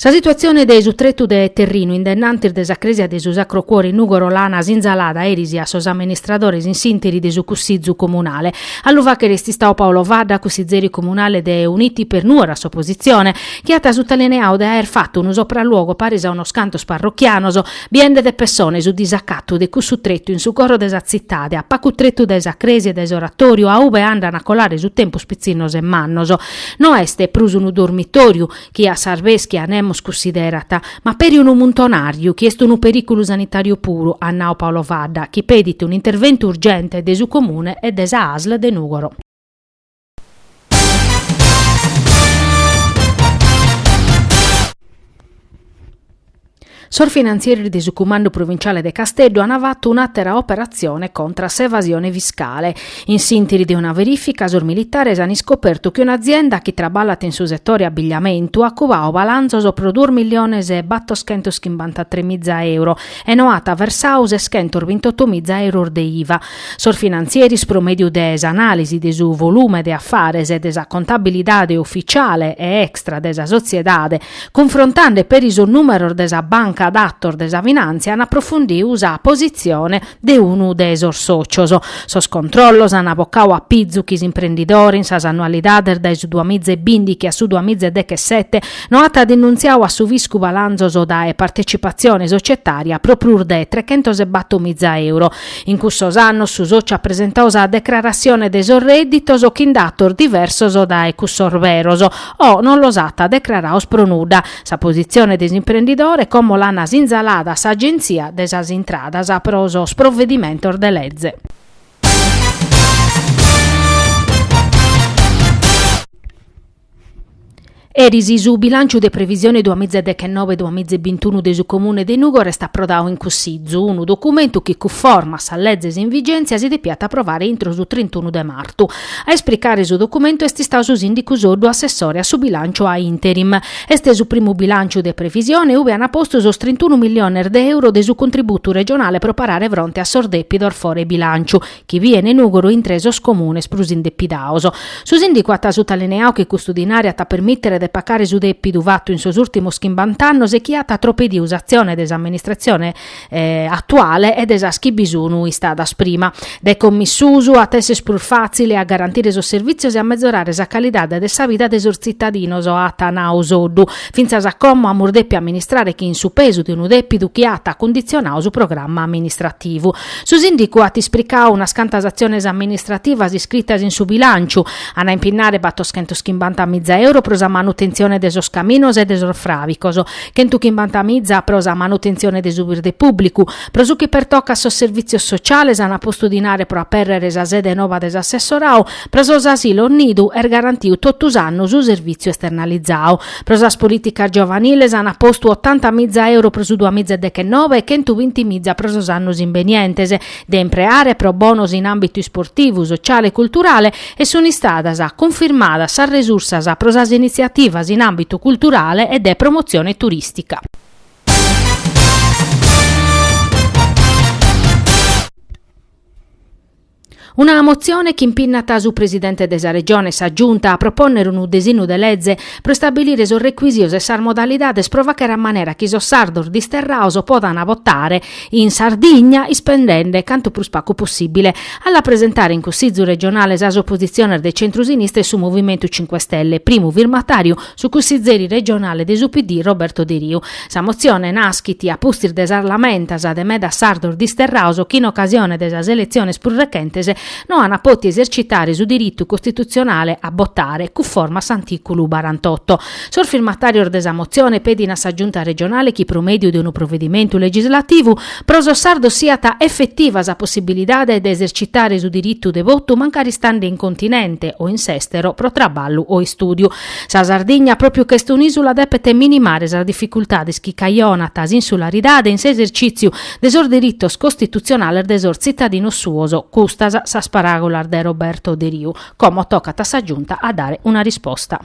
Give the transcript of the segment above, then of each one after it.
Sa situatzione de su tretu de terrinu in dennantis de sa crèsia de su Sacro Cuore in Nùgoro l'ana sinzalada eris a sos amministradores in s'interi de su Cussizu comunale. A lu fàghere est istadu Paolo Fadda, cussizeri comunale de Uniti per Nuoro a s'oposizione, chi at sutalineadu de aer fatu unu sopralluogo paris a unos cantos parrochianos, biende de pessone su disacatu de cussu tretu in su coro de sa tzitade, a pacu tretu dae sa crèsia e dae s'oratòriu a ube andan a colare su tempus pitzinnos e mannos. No est prus unu dormitòriu, chi a s'arbèschia nemos cussiderat, ma peri unu muntonàriu chi est unu perìculu sanitàriu puru, at nau Paolo Fadda, chi pedit un'interventu urgente de su Comune e de sa Asl de Nùgoro. Sos finantzieris de su Cumandu Provinciale de Casteddu ant fatu un'àtera operatzione contra a s'evasione fiscale. In s'ìntiri de una verìfica sos militares ant iscopertu chi un'azienda chi traballat in su setore abigliamentu at cubadu balanzos pro duos milliones e battoschentos chimbantatrè miza euro e no at versadu seschentos bintotu miza euros de iva. Sos finantzieris pro mèdiu de s'anàlisi de su volume de afares e de sa contabilidade ufitziale e extra de sa sotziedade Cunfrontande peri sos nùmeros de sa banca datos de sa finàntzia an aprofundiu sa positzione de unu de sos sòcios. Sos controllos an bocadu a pizu chi s'imprendidore in sas annualidades dae su duamiza e bindighi a su duamiza e dechesete no at denuntziadu a su fiscu balanzos dae partetzipatzione sotzietària pro prus de trechentos e bator miza euro. In cussos annos su sòciu at presentadu sa decraratzione de sos rèdditos o chin datos diversos dae cussos beros, o non los at decrarados pro nudda. Sa positzione de s'imprendidore, como l'an sinzalada a s'Agentzia de sas Intradas pro sos provedimentos de leze. Eris su bilànciu de previsione duas miza dechenobe duas miza e bintunu de su Comune de Nùgoro est aprodadu in Cussizu, unu documentu chi cunforma a sas lezes in vigèntzia si depiat aprovare intro su trintunu de martu. A esplicare su documentu est istadu su sìndicu Soddu assessore a su bilànciu a interim. Est su primu bilànciu de previsione ube an postu sos trintunu milliones de euro de su contributu regionale pro parare fronte a sos dèpidos fore bilànciu chi bien Nùgoro intre sos comunes prus indepidados. Su sìndicu at sutalineadu chi custu dinari at a permìtere de pacare su dèpidu fatu in sos ùrtimos chimbant'annos e chi at atropediu s'atzione de s'amministratzione atuale e de sas chi bi sun istadas prima, de commissusu at esser prus fàtzile a garantire sos servìtzios e a mezorare sa calidade de sa vida de sos tzitadinos, at nau Soddu. Fintzas a como amus depi amministrare chin su pesu de unu dèpidu chi at cunditzionau su programma amministrativu. Su sìndicu at ispricau unas cantas atziones amministrativas iscritas in su bilànciu, ant a impinnare batoschentos chimbanta miza euro pro sa manutentzione de sos caminos e de sos fràvicos, Chentu chimbanta miza pro sa manutentzione de su birde pùblicu. Pro su chi pertocat sos servìtzios sociales, ant postu dinare pro apèrrere sa sede nova de s'assessorau, pro sos asilos nidu est garantiu totu s'annu su servìtziu esternalizau. Pro sas polìticas giovaniles ant postu otanta miza euro pro su duamiza e dechenobe e chentu binti miza pro sos annos imbenientes. de impreare pro bonos in àmbitu isportivu, sociale e culturale e sunt istadas cunfirmadas sas resursas pro sas initziativas in àmbitu culturale e de promotzione turìstica. Una motzione chi impinnat su Presidente de sa Regione e sa Giunta a propònnere unu desinnu de lege pro istabilire sos recuisios e sas modalidades pro fàchere a manera chi sos sardos disterraos podant votare in Sardigna, ispendende cantu prus pacu possìbile, a la presentare in Cussizu regionale sas opozitziones de centro-sinistra e su Movimentu Cinque Stelle, primu firmatàriu su cussìzeri regionale de su PD Roberto Deriu. Sa motzione naschit a pustis de sas lamentas de medas sardos disterraos chi in ocasione de sas eletziones prus rechentes no ant poti esercitare su diritu costitutzionale a botare, cunforma a s'artìculu barantotto. Sos firmatàrios de sa motzione pedin a sa Giunta regionale chi pro mèdiu de unu provedimentu legislativu pro sos sardos siat efetiva sa possibilidade de esercitare su diritu de votu mancari istande in continente o in s'èstero pro traballu o istùdiu. Sa Sardigna, pròpiu ca est un'ìsula, depet minimare sas dificultades chi cajonat s'insularidade in s'esercìtziu de sos diritos costitutzionales de sos tzitadinos suos, custas sas paràgulas de Roberto Deriu. Como tocat a sa Giunta a dare una risposta.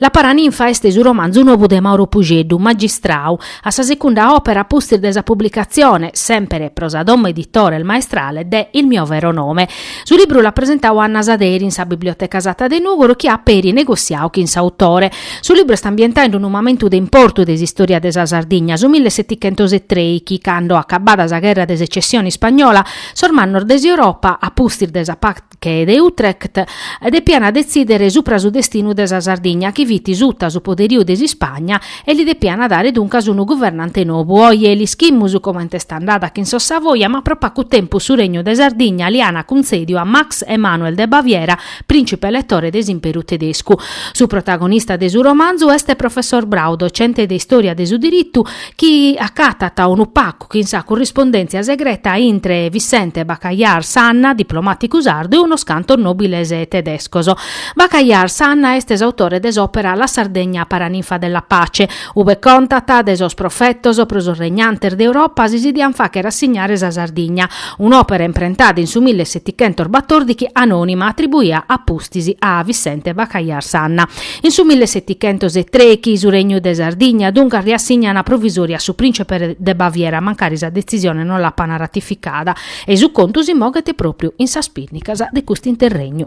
La Paraninfa est su romanzu nobu de Mauro Pusceddu, Magistrau, a sa secunda òpera a pustis de sa publicatzione, semper pro sa domo editora Il Maestrale, de Il mio vero nome. Su libru l'at presentadu Anna Saderi in sa Biblioteca Satta de Nùgoro chi at peri negossiau chin s'autore. Su libru est ambientau in unu mamentu de importu de s'istòria de sa Sardigna, su mille setichentos e trei, chi cando, acabada sa gherra de secessione ispagnola, sos mannos de s'Europa, a pustis de sa Pache de Utrecht, depiant detzìdere supra su destinu de sa Sardigna chi fit suta su poderiu de s'Ispagna e li depiant dare duncas unu guvernante nobu. Oje l'ischimus comente est andada chin sos Savoia ma pro pacu tempus su regnu de Sardigna li an cuntzèdiu a Max Emanuel de Baviera prìncipe eletore de s'Imperu tedescu. Su protagonista de su romanzu est Professor Brau, docente de istòria de su diritu, chi acatat unu pacu chin sa currispondèntzia segreta intre Vicente Bacallar Sanna, diplomàticu sardu, e unos cantos nòbiles tedescos. Bacallar Sanna est s'autore de s'òpera La Sardegna paraninfa della pace, Ube contat de sos profetos pro sos regnantes de Europa si si dian fàcher assignare sa Sardigna, un'òpera imprentada in su mille setichentos batòrdichi anònima atribuia a pustis a Vicente Bacallar Sanna. In su mille setichentos e trèichi su regnu de Sardigna duncas riassignan a provisòria a su prìncipe de Baviera mancari sa detzisione non l'apan ratificada e su contu si moghet pròpriu in sas pinnicas de cust'interregnu.